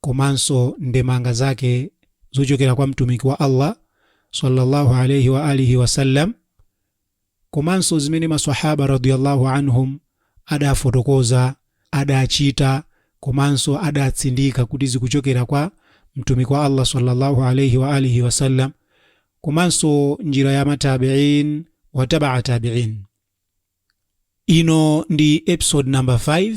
komanso ndemanga zake zochokera kwa Mtumiki wa Allah salla Allah alaih wa alihi wa sallam, komanso zimene ma Swahaba radhia Allah anhum adafotokoza, adachita, komanso adatsindika kuti zikuchokera kwa Mtumiki wa Allah salla Allah alaih wa alihi wa sallam, komanso njira ya ma tabi'in wa taba'a tabi'in. Ino ndi episode number 5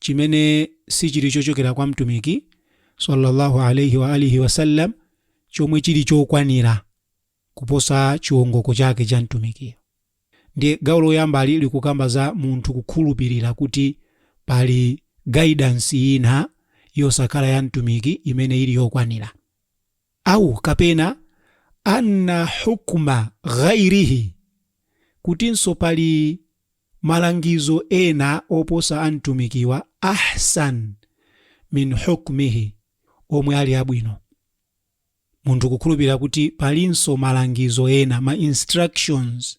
chimene sichili chochokera kwa Mtumiki, Sallallahu Alayhi wa Alihi Wasallam, chomwe chili chokwanira kuposa chiongoko chake cha Mtumikiyo. Ndiye gawo loyambalo likukamba za munthu kukhulupilira kuti pali guidance ina yosakhala ya Mtumiki imene ili yokwanira. Aw kapena anna hukma ghayrihi, kutinso pali malangizo ena oposa a Mtumikiwa, ahsan min hukmihi, omwe ali abwino. Munthu kukhulupirira kuti palinso malangizo ena, ma instructions,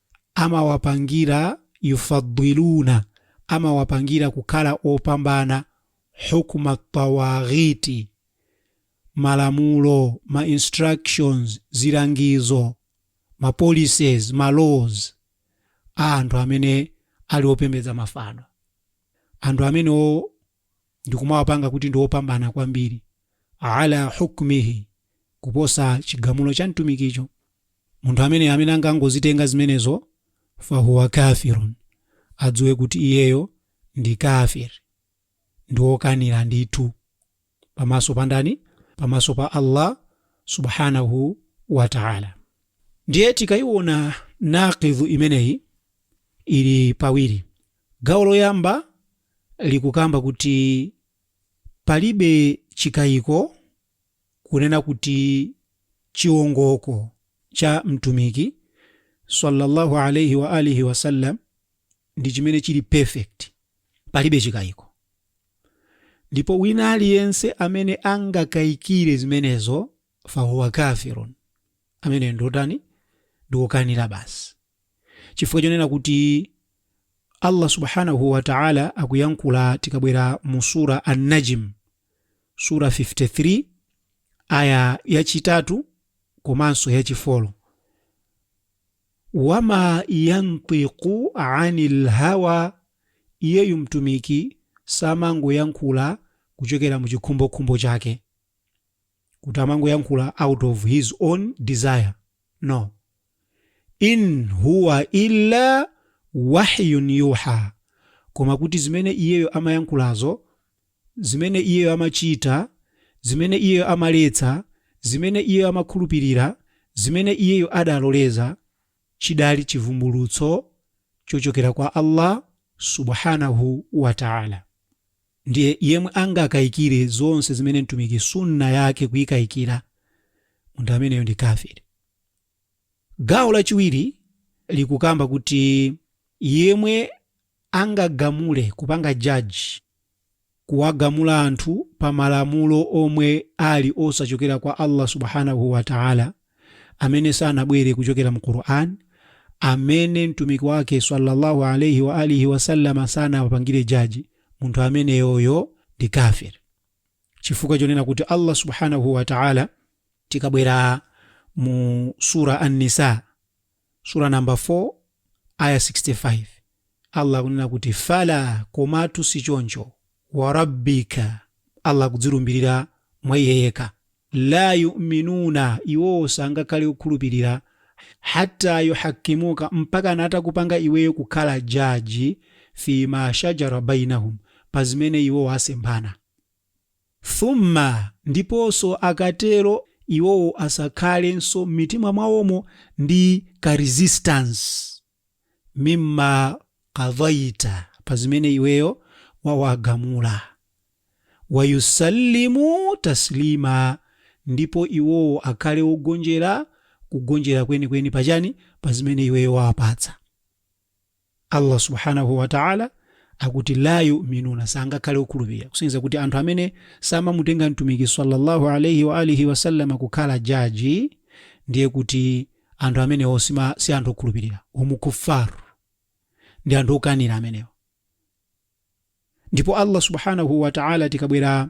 amawapangira, yufaddiluna, amawapangira kukhala opambana, hukma tawaghiiti, malamulo, ma instructions, zilangizo, ma policies, ma laws, a anthu amene ali opembedza mafano. Anthu amenewo ndikumawapanga kuti ndi opambana kwambiri ala hukmihi kuposa chigamulo cha mtumikicho munthu ameneyi amene angangozitenga zimenezo fahuwa kafirun adziwe kuti iyeyo ndi kafir ndi wokanira ndithu pamaso pa ndani pamaso pa allah subhanahu wa taala ndiye tikayiona naqidhu imeneyi ili pawiri Gawo loyamba likukamba kuti palibe chikaiko kunena kuti chiongoko cha Mtumiki, Sallallahu Alayhi Wa Alihi Wasallam, ndi chimene chili perfect, palibe chikaiko. Ndipo wina aliyense amene angakaikire zimenezo, fahuwa kafirun, amene ndi wotani? Ndi wokanira basi. chifukwa chonena kuti Allah Subhaanahu wa Ta'aala akuyankhula tikabwera mu Suurah An-Najm, Surah 53, Aayah yachitatu komanso yachifolo. Wa maa yantiqu anil hawa, iyeyu Mtumiki samangoyankhula kuchokera mu chikhumbokhumbo chake, kuti amangoyankhula out of his own desire, no. in huwa illa wahyun yuha koma kuti zimene iyeyo amayankhulazo zimene iyeyo amachita zimene iyeyo amaletsa zimene iyeyo amakhulupirira zimene iyeyo adaloleza chidali chivumbulutso chochokera kwa allah subhanahu wa taala ndiye yemwe angakayikire zonse zimene mtumiki sunna yake kuyikayikira munthu ameneyo ndi kafiri Gawo lachiwiri likukamba kuti yemwe angagamule, kupanga judge, kuwagamula anthu pa malamulo omwe ali osachokera kwa Allah Subhaanahu wa Ta'ala, amene sanabwere kuchokera mu Qur'an, amene Mtumiki wake swalla Allahu alaih wa alihi wasallam sanawapangire judge, munthu ameneyoyo ndi kafir. chifukwa chonena kuti Allah Subhaanah wa Ta'ala tikabwera mu Surah An-Nisaa Surah number 4 Aya 65 Allah akunena kuti fala komatu sichoncho wa Rabbika Allah akudzilumbilira mwa iye yekha la yu'minuna iwowo sangakhale okhulupirira hatta yuhakkimuka mpaka atakupanga iweyo kukhala jaji fi ma shajara bainahum pa zimene iwowo asemphana Thumma, ndiponso akatero iwowo asakhalenso m'mitima mwawomo ndi ka resistance, mimma qadaita, pa zimene iweyo wawagamula, wa yusallimu taslima, ndipo iwowo akhale ogonjera kugonjera kwenikweni pa chani? Pa zimene iweyo wawapatsa. Allah Subhaanah wa Ta'la akuti laa yu'minuuna sangakhale okhulupirira kusonyeza kuti anthu amene samamutenga Mtumiki sallallahu alayhi wa alihi wasallam kukhala jaji ndiye kuti anthu amenewo sima si anthu okhulupirira hum kuffar ndi anthu okanira amenewo ndipo Allah Subhaanah wa Ta'la tikabwera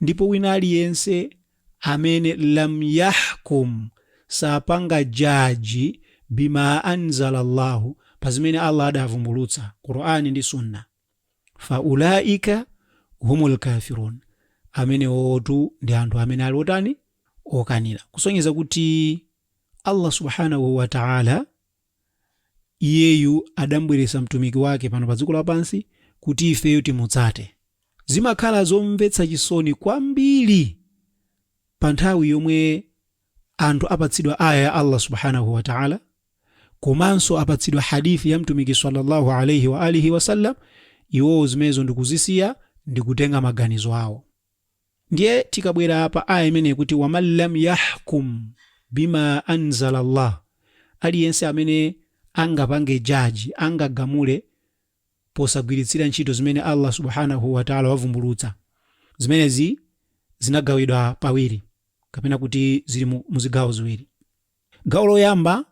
Ndipo wina aliyense amene lam yahkum sapanga jaji bima anzala Allahu pa zimene Allah adavumbulutsa, Qur'an ndi Sunnah, fa ulaika humul kafirun, amenewotu ndi anthu amene ali otani? okanira. Kusonyeza kuti Allah Subhaanahu wa Ta'ala Iyeyu adambweretsa Mtumiki wake pano pa dziko lapansi kuti ifeyo timutsate. Zimakhala zomvetsa chisoni kwambiri pa nthawi yomwe anthu apatsidwa Ayah ya Allah Subhaanahu wa Ta'la komanso apatsidwa Hadith ya Mtumiki salla Allah alaih wa alihi wasallam, iwowo zimenezo ndikuzisiya ndikutenga maganizo awo. Ndiye tikabwera pa aayah imeneyi kuti, waman lam yahkum bima anzala Allah, aliyense amene angapange judge, angagamule posagwiritsira ntchito zimene Allah Subhaanahu wa Ta'ala wavumbulutsa, zimenezi zinagawidwa pawiri kapena kuti zili mu zigawo ziwiri. Gawo loyamba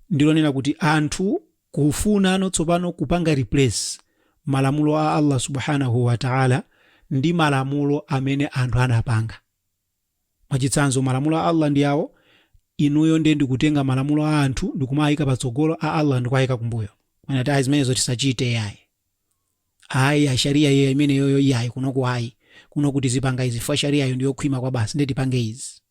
ndi lonena kuti anthu kufunano tsopano kupanga replace malamulo a Allah Subhaanahu wa Ta'ala ndi malamulo amene anthu anapanga. Mwachitsanzo, malamulo a Allah ndi awo, inuyo nde ndikutenga malamulo a anthu ndikumawaika patsogolo, a Allah ndikuwaika kumbuyo. Mwina akuti ayi zimenezo tisachite iyayi. Ayi Sharia imeneyoyo iyayi kunoku ayi. Kunoku tizipanga izi chifukwa Sharia yo ndiyokhwima kwabasi nde tipange izi.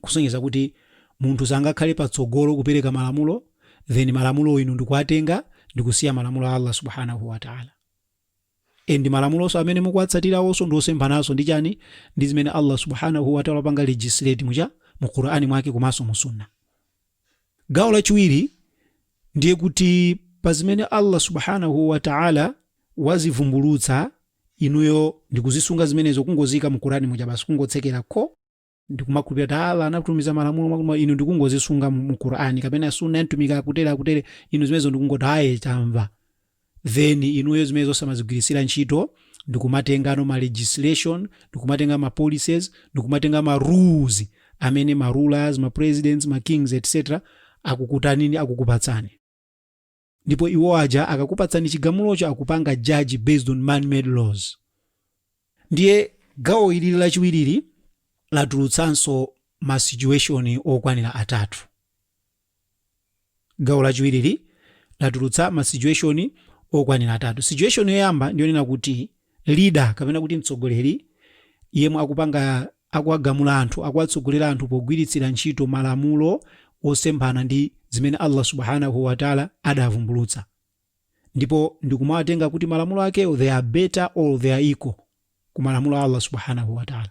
kusonyeza kuti munthu sangakhale patsogolo kupereka malamulo then malamulowo inu ndikuwatenga ndikusiya malamulo a Allah subhanahu wa ta'ala and malamuloso amene mukuwatsatirawoso ndi osemphananso ndi chani ndi zimene Allah subhanahu wa ta'ala wapanga legislate muja mu Qur'ani mwake komanso mu sunna gawo lachiwiri ndiye kuti pa zimene Allah subhanahu wa ta'ala wazivumbulutsa inuyo ndikuzisunga zimenezo kungoziika mu Qur'ani muja basi kungotsekerako ndikumakhulupirira kuti Allah anatumiza malamulo inu ndikungozisunga mu, mu Qur'an kapena sunna ya mtumiki akutere akutere inu zimenezo ndikungoti ayi tamva then inuyo zimenezo osamazigwiritsira ntchito ndikumatengano ma legislation ndikumatenga ma policies ndikumatenga ma rules amene ma rulers ma presidents ma kings etc akukutanini akukupatsani ndipo iwo aja akakupatsani chigamulocho akupanga judge based on man made laws ndiye gawo ili lachiwiriri latulutsanso ma situation okwanira atatu gawo lachiwiriri latulutsa ma situation okwanira atatu situation yoyamba ndiyonena kuti leader kapena kuti mtsogoleri yemwe akupanga akuwagamula anthu akuwatsogolera anthu pogwiritsira ntchito malamulo osemphana ndi zimene Allah subhanahu wa ta'ala adavumbulutsa ndipo ndikumawatenga kuti malamulo akewo they are better or they are equal ku malamulo a Allah subhanahu wa ta'ala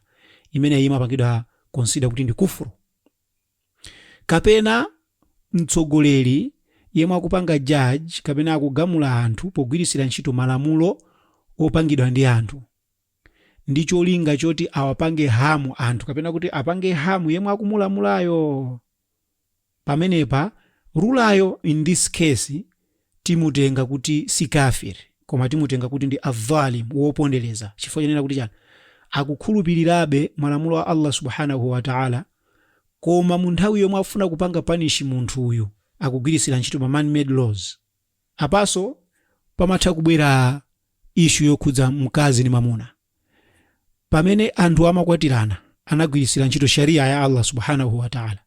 imeneyi imapangidwa consider kuti ndi kufuru Kapena mtsogoleri yemwe akupanga judge kapena akugamula anthu pogwiritsira ntchito malamulo opangidwa ndi anthu ndi cholinga choti awapange harm anthu kapena kuti apange harm yemwe akumulamulayo. Pamenepa ruler yo, in this case, timutenga kuti si kaafir koma timutenga kuti ndi adh-dhalim, wopondereza, chifukwa chonena kuti chani? Akukhulupirirabe malamulo a Allah Subhanahu wa Ta'ala koma mu nthawi yomwe afuna kupanga punish munthu uyu akugwiritsira ntchito ma man made laws. Apanso pamatha kubwera issue yokhudza mkazi ndi mwamuna. Pamene anthu amakwatirana anagwiritsira ntchito Sharia ya Allah Subhanahu wa Ta'ala.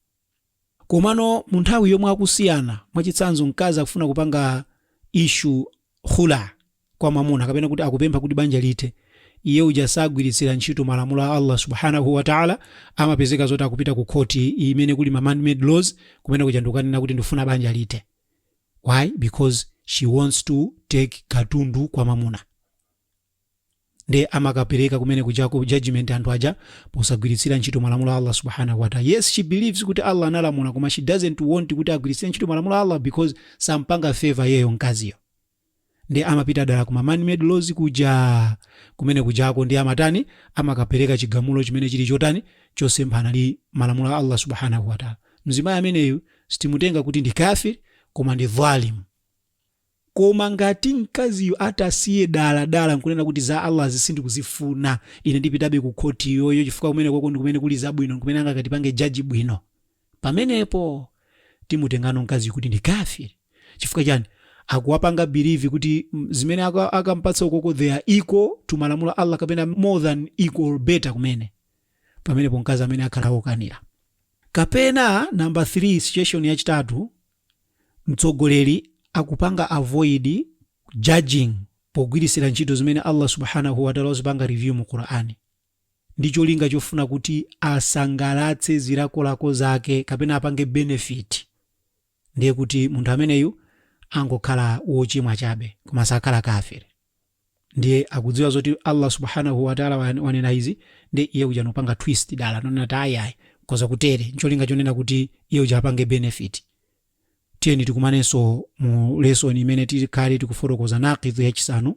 Komano munthawi yomwe akusiyana, mwachitsanzo mkazi akufuna kupanga issue khula kwa mwamuna kapena kuti akupempha kuti banja lithe, iye uja sagwiritsira ntchito malamulo a Allah Subhanahu wa Ta'ala, amapezeka zoti akupita ku khoti imene kuli ma man made laws, kumene kuja ndikukanena kuti ndikufuna banja lithe. Why? Because she wants to take katundu kwa mwamuna. nde amakapereka kumene kujako judgment anthu aja posagwiritsira ntchito malamulo a allah subhanahu wataala yes she believes kuti allah analamula koma she doesn't want kuti agwiritsire ntchito malamulo a allah because sampanga favor iyeyo mkaziyo nde amapita dala kuma manmade laws kuja kumene kujako nde amatani amakapereka chigamulo chimene chili chotani chosemphana ndi malamulo a allah subhanahu wataala mzimayi ameneyu sitimutenga kuti ndi kafir koma ndi dhalim Koma ngati mkaziyo atasiya dala dala n'kunena kuti za Allahzi sindikuzifuna, ine ndipitabe ku khoti iyoyo chifukwa kumenekoko ndi kumene kuli zabwino n'kumene angakatipange judge bwino, pamenepo timutengano mkaziyu kuti ndi kaafir. Chifukwa chani? Akuwapanga believe kuti zimene akam'patsa ukoko they are equal to malamulo a Allah kapena more than equal or better kumene. Pamenepo mkazi ameneyu akhala wokanira. Kapena number 3, situation yachitatu, mtsogoleri akupanga avoid judging pogwirisira ntchito zimene Allah subhanahu wa ta'ala wazipanga reveal mu Qur'an ndi cholinga chofuna kuti asangalatse zilakolako zake kapena apange benefit ndiye kuti munthu ameneyu angokhala wochimwa chabe koma sakhala kafiri ndiye akudziwa zoti Allah subhanahu wa ta'ala wan- wanena izi ndiye iye uja n'kupanga twist dala n'kunena kuti ayi ayi koza kutere ncholinga chonena kuti iye uja apange benefit tiyeni tikumanenso mu lesson imene tikhale tikufotokoza naqidhu yachisanu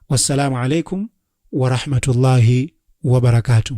wassalamu alaikum warahmatullahi wabarakatuh